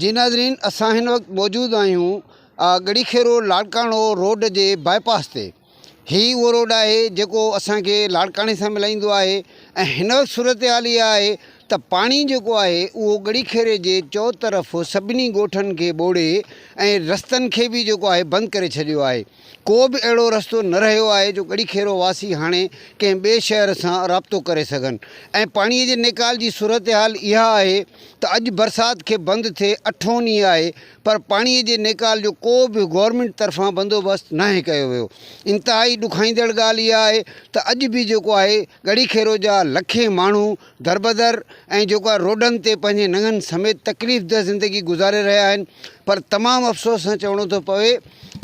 جي ناظرين اسان هن وقت موجود آهيون ڳڙهي کيرو لاڙڪاڻو روڊ جي باء پاس تي هي اهو روڊ آهي جيڪو اسان کي لاڙڪاڻي سان ملائيندو آهي ۽ هن وقت صورتحال اها آهي ته پاڻي جيڪو آهي اهو ڳڙهي کيري جي چوطرف سڀني ڳوٺن کي ٻوڙي ۽ رستن کي به جيڪو آهي بند ڪري ڇڏيو آهي ڪو به اهڙو رستو نه رهيو آهي جو ڳڙهي کيرو واسي هاڻي ڪنهن ٻئي شهر سان رابطو ڪري سگهن ۽ پاڻي جي نيڪال جي صورتحال اها آهي ته اڄ برسات کي بند ٿئي اٺون ڏينهن آهي پر پاڻي جي نيڪال جو ڪو به گورنمينٽ طرفان بندوبست ناهي ڪيو ويو انتهائي ڏکائيندڙ ڳالهه اها آهي ته اڄ به جيڪو آهي ڳڙهي کيرو جا لکين ماڻهو دربدر ۽ جيڪو آهي روڊن تي پنهنجي ننگن سميت تڪليف ده زندگي گذاري رهيا آهن پر تمام افسوس سان چوڻو ٿو پوي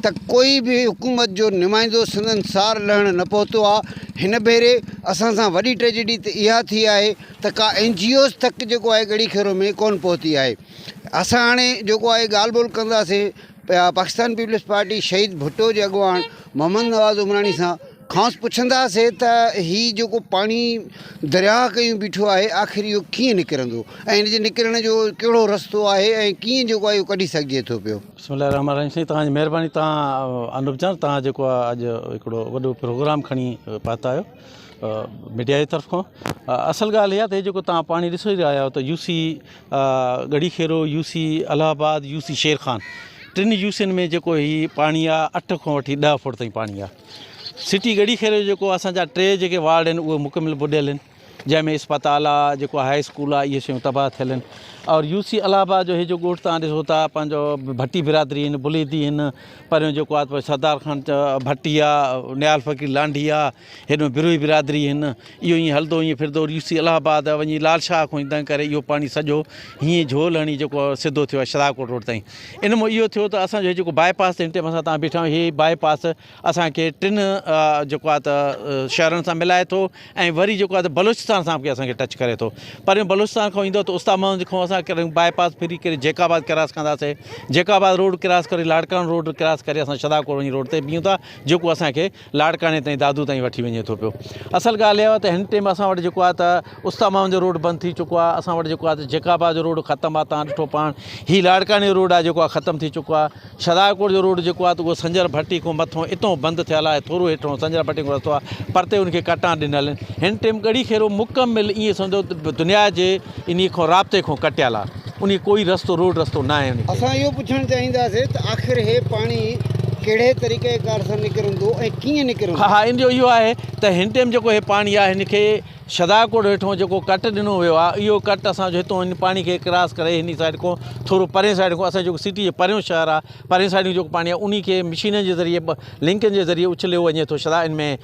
ته ڪوئي به حڪومت جو نمائندو سندن سار لهڻ نه پهتو آ هن ڀيري اسان سان وڏي ٽريجڊي ته اها ٿي آهي ته ڪا اين جي اوز تڪ جيڪو آهي ڳڙي کيرو ۾ ڪون پهتي آهي اسان هاڻي جيڪو آهي ڳالهه ٻولهه ڪنداسين پاڪستان پيپلز پارٽي شهيد ڀٽو جي اڳواڻ محمد نواز عمراڻي سان کانئس پڇنداسي ته هي جيڪو پاڻي درياهه ڪيون بيٺو آهي آخر اهو ڪيئن نڪرندو ۽ ان جي نڪرڻ جو ڪهڙو رستو آهي ۽ ڪيئن جيڪو آهي اهو ڪڍي سگهجي ٿو پيو. بسم الله الرحمٰن الرحيم سائين توهان جي مهرباني توهان انوپ جان توهان جيڪو آهي اڄ هڪڙو وڏو پروگرام کڻي پاتا آهيو ميڊيا جي طرف کان اصل ڳالهه اها ته هي جيڪو توهان پاڻي ڏسو ئي رهيا آهيو ته U C Garhi Khero U C Allahabad U C Sher Khan ٽن يو سين ۾ جيڪو هي پاڻي آهي اٺ کان وٺي ڏهه فوٽ تائين پاڻي آهي سٽي ڳڙهي خير جو جيڪو اسان جا ٽي جيڪي وارڊ آهن اهي مڪمل ٻڏيل آهن جنهن ۾ اسپتال آهي جيڪو هاء اسڪول آهي اهي شيون تباهه ٿيل آهن اور يو سي الهه آباد جو هي جو ڳوٺ تان ڏسو ٿا پنهنجو ڀٽي برادري آهن بليدي آهن پريون جيڪو آهي سردار خان ڀٽي آهي نيال فقير لانڍي آهي هيڏو بروهي برادري آهن اهو ائين هلندو ائين ڦردو ريوسي الله آباد وڃي لال شاهه کان ايندان ڪري اهو پاڻي سڄو هيئن جهول هڻي جيڪو سڌو ٿيو شهداب ڪوٽ روڊ تائين ان مون اهو ٿيو ته اسان جو جيڪو باء پاس تي هن ٽيم اسان تان بيٺا هي باء پاس اسان کي ٽن جيڪو آ ته شهرن سان ملائي ٿو ۽ وري جيڪو آ ته بلوچستان سان به اسان کي ٽچ ڪري ٿو پر بلوچستان کان ايندو ته استاد محمد کان اسان ڪري باء پاس ڦري ڪري جيڪ آباد ڪراس ڪنداسي جيڪ آباد روڊ ڪراس ڪري لاڙڪاڻو روڊ ڪراس ڪري اسان شهداب ڪوٽ وڃي روڊ تي بيهون ٿا جيڪو اسان کي لاڙڪاڻي تائين دادو تائين وٺي وڃي ٿو پيو اصل ڳالهه اها ته هن ٽيم اسان وٽ جيڪو آهي ته استامام جو روڊ بند ٿي چڪو آهي اسان وٽ جيڪو آهي ته جيڪابا جو روڊ ختم آهي تان ڏٺو پاڻ هي لاڙڪاڻي جو روڊ آهي جيڪو آهي ختم ٿي چڪو آهي شهداڪوٽ جو روڊ جيڪو آهي ته اهو سنجر ڀٽي کان مٿو اتو بند ٿيل آهي ٿورو هيٺو سنجر ڀٽي کان رستو آهي پرتي ان کي ڪٽان ڏنل آهن هن ٽيم ڳڙهي کيرو مڪمل ائين سمجهو دنيا جي انهيء کان رابطي کان ڪٽيل آ. انهيء ڪوئي رستو روڊ رستو ناهي انهيء کي. اسان اهو پڇڻ چاهينداسين ته آخر هي پاڻي ڪهڙي طريقه ڪار سان نڪرندو ۽ ڪيئن نڪرندو؟ ها ها ان جو اهو آهي ته هن ٽيم جيڪو هي پاڻي آ هن کي شهداڪوٽ هيٺون جيڪو ڪٽ ڏنو ويو آ اهو ڪٽ اسان جو هتون هن پاڻي کي ڪراس ڪري هني سائيڊ کان ٿورو پرين سائيڊ کان اسان جيڪو سٽي جي پريون شهر آ پرين سائيڊ جيڪو پاڻي آ انهي کي مشينن جي ذريعي لنڪن جي ذريعي اڇليو وڃي ٿو شهدا ان ۾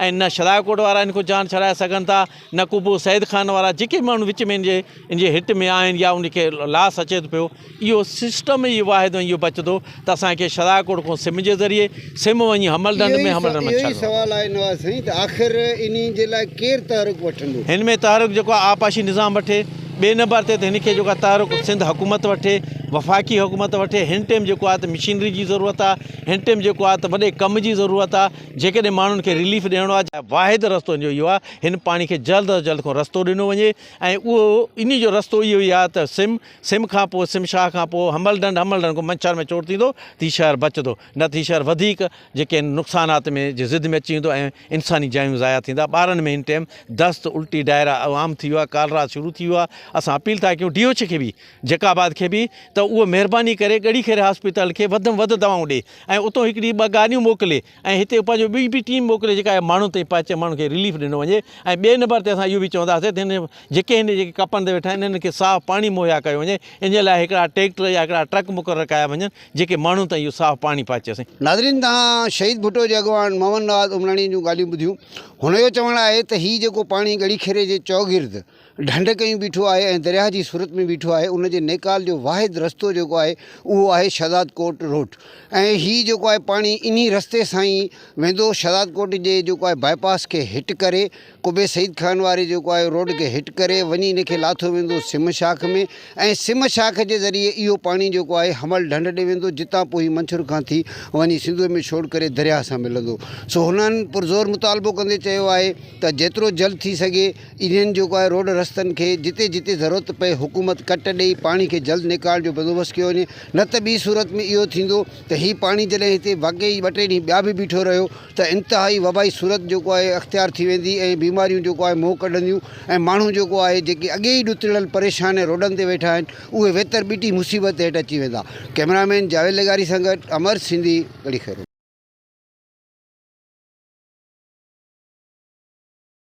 ۽ نه شھداء ڪوٽ وارا ھن کان جان ڇڏائي سگھن ٿا نه ڪو پوء سيد خان وارا جيڪي ماڻھو وچ ۾ ھن جي ھن جي ھٽ ۾ آھن يا ان کي لاس اچي ٿو پيو اھو سسٽم ئي واحد ۽ اھو بچندو ته اسانکي شھداء ڪوٽ کان سم جي ذريعي سم وڃي ھمل ڍنڍ ۾ ھمل ڍنڍ ۾ ڇڏڻو اھو ئي سوال آھي نواز سائين ته آخر انھي جي لاء ڪير تحرڪ وٺندو؟ ھن ۾ تحرڪ جيڪو آھي آبپاشي نظام وٺي ٻئي نمبر تي ته ھن کي جيڪو آھي تحرڪ سنڌ حڪومت وٺي وفاقي حڪومت وٺي ھن ٽيم جيڪو آھي ته مشينري جي ضرورت آھي ھن ٽيم جيڪو آھي ته وڏي ڪم جي ضرورت آھي جيڪڏهن ماڻهن کي رليف ڏيڻو آهي ته واحد رستو ان جو اهو آهي هن پاڻي کي جلد از جلد ڪو رستو ڏنو وڃي ۽ اهو ان جو رستو اهو ئي آهي ته سم سم کان پوء سم شاهه کان پوء همل ڍنڍ همل ڍنڍ کان منڇر ۾ چور ٿيندو ته هي شهر بچندو نه ته هي شهر وڌيڪ جيڪي آهن نقصانات ۾ جي زد ۾ اچي ويندو ۽ انساني جايون ضايع ٿيندا ٻارن ۾ هن ٽيم دست الٽي ڊائرا عام ٿي ويو آهي ڪالرا شروع ٿي ويو آهي اسان اپيل ٿا ڪيون ڊي ايڇ کي به جيڪب آباد کي به ته اهو مهرباني ڪري ڳڙهي خير هاسپيتال کي وڌ ۾ وڌ دوائون ڏي ۽ اتو هڪڙي ٻه گاڏيون موڪلي ۽ هتي پنهنجو ٻي به ٽيم موڪلي جيڪا اهي ماڻهن تائين پهچي ماڻهن کي رليف ڏنو وڃي ۽ ٻئي نمبر تي اسان اهو به چونداسين ته هن جيڪي هن جيڪي ڪپن تي ويٺا آهن انهن کي صاف پاڻي مهيا ڪيو وڃي ان جي لاء هڪڙا ٽيڪٽر يا هڪڙا ٽرڪ مقرر ڪيا وڃن جيڪي ماڻهن تائين اهو صاف پاڻي پهچي سائين. ناظرين توهان شهيد ڀٽو جي اڳواڻ محمد نواز عمراڻي جون ڳالهيون ٻڌيون هن جو چوڻ آهي ته هي جيڪو پاڻي ڳڙهي خيري جي چوگرد ڍنڍ ڪيون بيٺو آهي ۽ درياهه جي صورت ۾ بيٺو آهي ان جي نيڪال جو واحد رستو جيڪو آهي اهو آهي شهداد ڪوٽ روڊ ۽ هي جيڪو آهي پاڻي انهي رستي سان ئي ويندو شهداد ڪوٽ جي جيڪو آهي باء پاس کي هٽ ڪري قبي سعيد خان واري جيڪو آهي روڊ کي هٽ ڪري وڃي ان کي لاٿو ويندو سم شاخ ۾ ۽ سم شاخ جي ذريعي اهو پاڻي جيڪو آهي حمل ڍنڍ ڏي ويندو جتان پوء هي منڇر کان ٿي وڃي سنڌوء ۾ ڇوڙ ڪري درياهه سان ملندو سو هنن پرزور مطالبو ڪندي چيو آهي ته جيترو جلد ٿي سگهي انهن جيڪو آهي روڊ رستن کي جتي جتي ضرورت پئي حڪومت ڪٽ ڏئي پاڻي کي جلد نيڪال جو بندوبست ڪيو وڃي نه ته ٻي صورت ۾ اهو ٿيندو ته هي پاڻي جڏهن هتي واقعي ٻه ٽي ڏينهن ٻيا به بيٺو رهيو ته انتهائي وبائي صورت جيڪو آهي اختيار ٿي ويندي ۽ بيماريون جيڪو آهي منهن ڪڍنديون ۽ ماڻهو جيڪو آهي جيڪي اڳي ئي ڏتڙيل پريشان ۽ روڊن تي ويٺا آهن اهي ويتر ٻٽي مصيبت هيٺ اچي ويندا ڪئميرا مين جاويد لغاري سان گڏ امر سنڌي ڳڙهي خيرون.